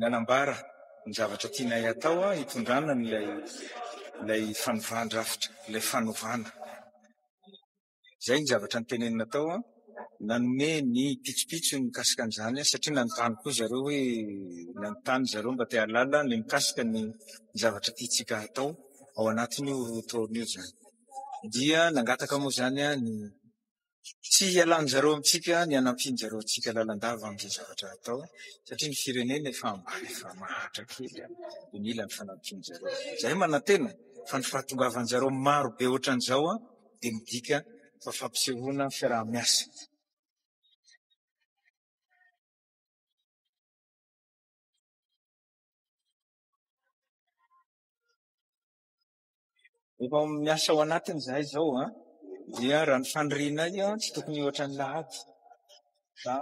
nanambara ny zavatra tianay hatao hitondrana an'ilay ilay fanovan-drafitra, ilay fanovana. Izay ny zavatra notenenina tao, nanome ny pitsopitsony mikasika an'izany satria nanontany koa zareo hoe nanontany zareo mba te hahalala ny mikasika ny zavatra tiantsika hatao ao anatin'io roa taona io izany. Dia nangataka moa izany ny Tsy hialan-dry zareo amintsika ny hanampian-dry zareo antsika lalandava amin'izay zavatra atao, satria ny firenena efa ambany, efa mahatra kely, dia mila ny fanampian-dry zareo. Izahay manantena fa ny fahatongavan-dry zareo maro be ohatran'izao dia midika fa fampisehoana fiaraha-miasa. Efa miasa ao anatiny izahay izao an. Dia raha ny fanirianay an, tsy tokony ohatra ny lahady. Fa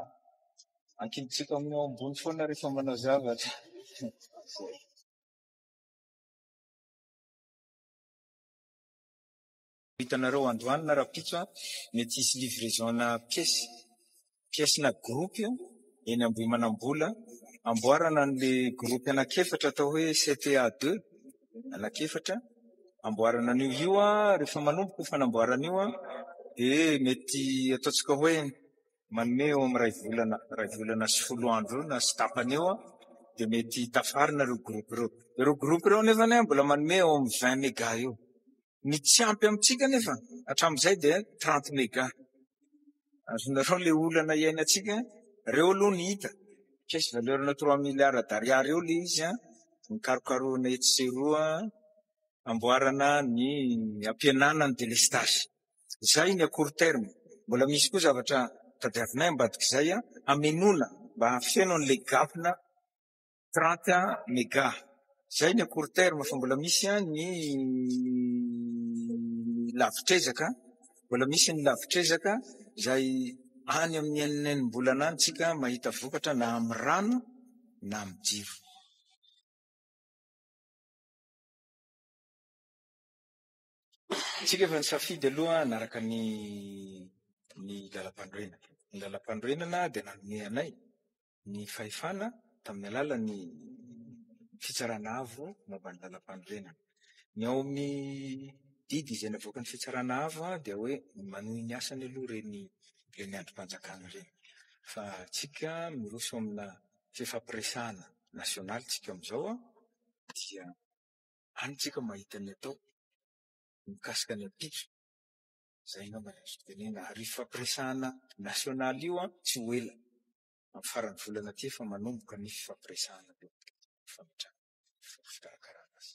ankintsika amin'ny ao ambony foana rehefa manao zavatra. Hitanareo androany na rapitso an, mety hisy livraison-na pièce. pièce na groupe io eny Ambohimanambola, amboarana an'ilay groupe anankiefatra atao hoe CTA deux, anankiefatra, amboarana an'io. Io rehefa manomboka io fanamboarana io dia mety ataontsika hoe manome eo amin'ny iray volana, iray volana sy folo andro eo na sy tapany eo dia mety tafarina ireo groupe ireo. Ireo groupe ireo anefany mbola manome eo amin'ny vingt méga eo. Ny tsy ampy amintsika nefa hatramin'izay dia 30 mega. Azonareo le olana iainantsika, reo aloha ny hita, caisse valeur na 3 milliards d'ariary eo le izy an, nikarokarohina etsy sy eroa amboarana ny ampihenana ny délestage. Izay ny à court terme. Mbola misy koa zavatra tadiavinay ambadik'izay hamenoana mba hahafeno an'le gap-na. Trente un mega. Zay ny à court terme fa mbola misy an ny lavitr'ezaka an, mbola misy ny lavitr'ezaka izay any amin'ny enina enim-bolana any tsika mahita vokatra na amin'ny rano na amin'ny jiro. Tsika efa nisafidy aloha hanaraka ny ny lalam-panorenana. Ny lalam-panorenana dia nanome anay ny fahefana tamin'ny alalan'ny Fitsarana Avo momba ny Lalampanorenana. Ny ao amin'ny didy izay navoakan'ny Fitsarana Avo dia hoe manohy ny asany aloha ireny ireny andrim-panjakana ireny. Fa isika miroso amina fifampiresahana nasionaly isika amin'izao dia any isika mahita ny atao mikasika ny ampitso. Zay angamba ny azo tenena ary io fifampiresahana national io an tsy ho ela amin'ny faran'ny volana ty efa manomboka ny fifampiresahana eo amin'ny fametrahana ny fomba fikarakarana azy.